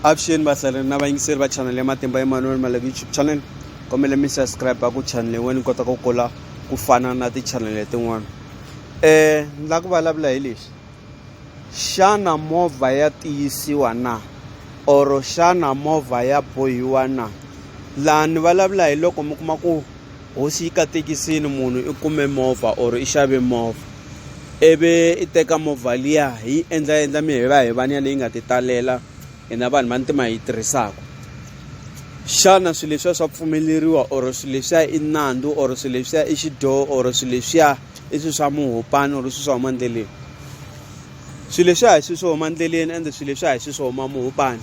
avuxeni vahlaleri na vayingiseri va chanel ya matimba ya manuel maleve youtube channel kombele mi subscribe ku chanel yin'wana ni kota ku kula ku fana na ti-channel letin'wana um eh, ni lava ku vulavula hi lexi xana movha ya tiyisiwa na or xana movha ya bohiwa na laha ni vulavula hi loko mi kuma ku hosi yi katekisini munhu i kume movha or i xave movha ivi i teka movha liya hi yi endla endla mi hi va hi vaniya leyi nga ti talela hina vanhu va ntima hi yi tirhisaka xana swilo leswiya swa pfumeleriwa or swilo leswiya i nandzu or swilo leswiya i xidyoho or swilo leswiya i swilo swa muhopani or swilo swa huma ndleleni swilo leswiya hi swilo swo huma ndleleni ende swilo leswiya hi swilo swo huma muhopani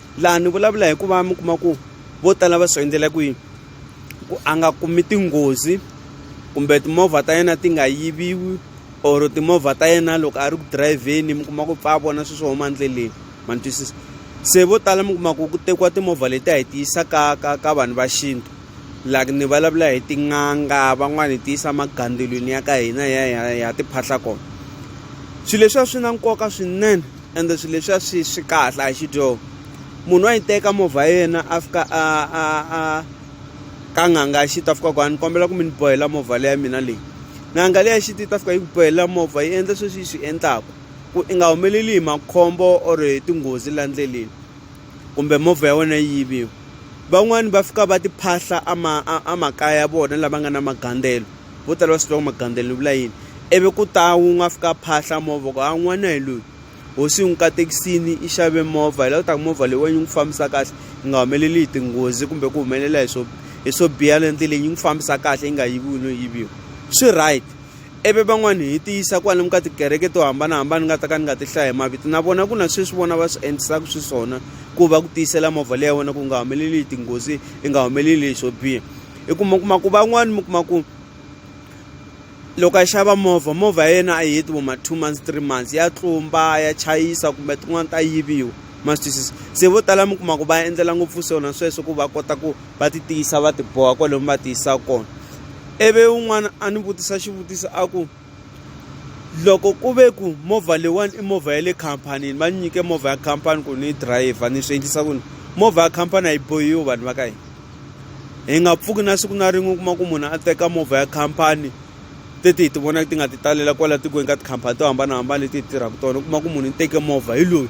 laha ni vulavula hikuva mi kuma ku vo tala va swi endlela kwihi ku a nga kumi tinghozi kumbe timovha ta yena ti nga yiviwi or timovha ta yena loko a ri ku dirayivheni mi kuma ku pfa a vona swilo swo huma endleleni ma ni twisisa se vo tala mi kuma ku ku tekiwa timovha leti a hi ti yisa ka ka ka vanhu va xintu like ni vulavula hi tin'anga van'wani hi ti yisa magandzulwini ya ka hina ya ya ya tiphahla kona swilo leswiya swi na nkoka swinene ende swilo leswiya swi swi kahle a hi xidyoho munhu wa yi teka movha ya yena a fika a a a ka n'anga ya xita fika ku a ni kombela ku mi ni bohela movha leya mina leyi n'anga leya xita yi ta fika yi ku bohelela movha yi endla sweswi yi swi endlaku ku i nga humeleli hi makhombo or hi tinghozi la ndleleni kumbe movha ya wena yi yiviwa van'wani va fika va tiphahla a ma a makaya ya vona lava nga na magandzelo. vo tala va swi tiva ku magandzelo li vula yini ivi ku ta wun'we a fika a phahla movha ku a n'wana hi loyi hosi yi n'wi katekisini i xave movha hi la ku ta ku movha leyi wa yi n'wi fambisa kahle yi nga humeleli hi tinghozi kumbe ku humelela hi swo hi swo biha le ndleleni yi n'wi fambisa kahle yi nga yiviwi no yiviwa swi right ivi van'wani hi ti yisa kwalomu ka tikereke to hambanahambana ni nga ta ka ni nga ti hlaya hi mavito na vona ku na sweswi vona va swi endlisaka xiswona ku va ku tiyisela movha leyi ya wena ku nga humeleli hi tinghozi yi nga humeleli hi swo biha hi ku mi kuma ku van'wani mi kuma ku loko a xava movha movha ya yena a yi heti vo ma two months three months ya tlumba ya chayisa kumbe tin'wani ta yiviwa ma swi twisisa se vo tala mi kuma ku va endlela ngopfu swona sweswo ku va kota ku va ti tiyisa va ti boha kwale mi va tiyisa kona ivi un'wana a ni vutisa xivutiso a ku loko ku ve ku movha leyiwani i movha ya le khampanini va ni nyike movha ya khampani ku ni yi dirayivha ni swi endlisa ku ni movha ya khampani a yi bohiwi vanhu va ka hina hi nga pfuki na siku na rin'we u kuma ku munhu a teka movha ya khampani teti hi ti vonaka ti nga ti talela kwala tikweni ka tikhampani to hambanahambana leti hi tirhaka tona u kuma ku munhu ni teke movha hi loyi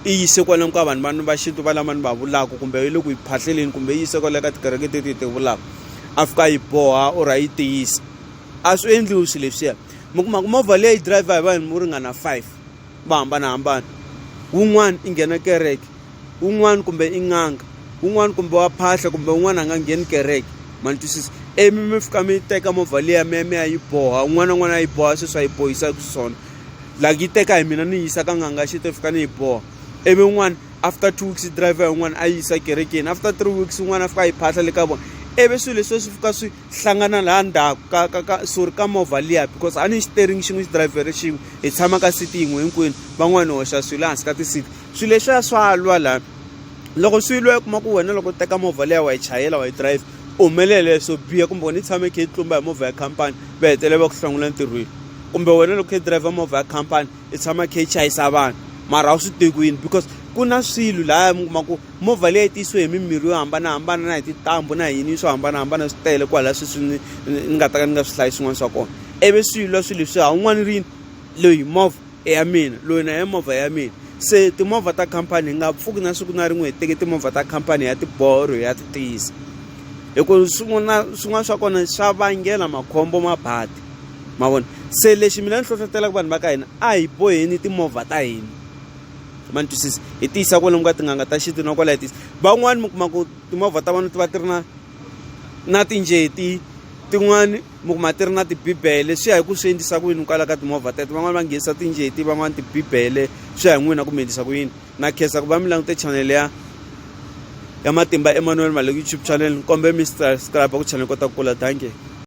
i yise kwalani ka vanhu vani va xintu va lama ni va vulaka kumbe yi le ku yi phahleleni kumbe yi yise kwale ka tikereke teti hi ti vulaka a fika a yi boha or a yi tiyisa a swi endliwi swilo leswiya mi kuma ku movha leyi driver hi vanhu vo ringana five va hambanahambana wun'wana i nghena kereke wun'wana kumbe i n'anga wun'wana kumbe wa phahla kumbe wun'wana a nga ngheni kereke ma ni twisisa ivi mi fika mi teka movha liya mi ya mi ya yi boha un'wana na un'wana a yi boha sweswi a yi bohisa xiswona like yi teka hi mina ni yi yisa ka nganga xi to fika ni yi boha ivi un'wana after two weeks driver yin'wana a yi yisa kerekeni after three weeks un'wana a fika a yi phahla le ka vona ivi swilo leswi swi fika swi hlangana laha ndzhaku ka ka ka sorry ka movha liya because a ni xiteringi xin'we xidirayivhele xin'we hi tshama ka siti yin'we hinkwenu van'wani hi hoxa swilo ehansi ka tisiti swilo leswiya swa lwa laha loko swi lwa u kuma ku wena loko u teka movha liya wa yi chayela wa yi dirayivha u humelele swo biha kumbe wena i tshame i kha i tlumba hi movha ya khampani va hetelela va ku hlongole entirhweni kumbe wena loko u kha i dirayivha movha ya khampani i tshama khe i chayisa vanhu mara a wu swi tivi ku yini because ku na swilo lahaya mi kuma ku movha leyi tiyisiwe hi mimirhi yo hambanahambana na hi tintambu na yini swo hambanahambana swi tele kwalaya sweswi ni ni nga ta ka ni nga swi hlayi swin'wana swa kona ivi swilo swilo leswi ha un'wana rini loyi movha i ya mina loyi na ya movha ya mina se timovha ta khampani hi nga pfuki na siku na rin'we hi teke timovha ta khampani ya tiboro ya ti tiyisa hi ku swin'wana swin'wana swa kona swa vangela makhombo mabadi. ma vona se lexi mina ni hlohlotelaka vanhu va ka hina a hi boheni timovha ta hina ma ni twisisa hi tiyisa kwalomu ka tin'anga ta xintu na kwalaya tiyisa van'wani mi kuma ku timovha ta vona ti va ti ri na na tinjeti tin'wani mi kuma ti ri na tibibele swi ya hi ku swi endlisa ku yini kwala ka timovha teto van'wani va nghenisa tinjeti van'wani tibibele swi ya hi n'wina ku mi endlisa ku yini na khensa ku va mi langute chanele ya ya matimba emmanuel male youtube channel ni kombe mi subscribe ku channel kota ku kula dankie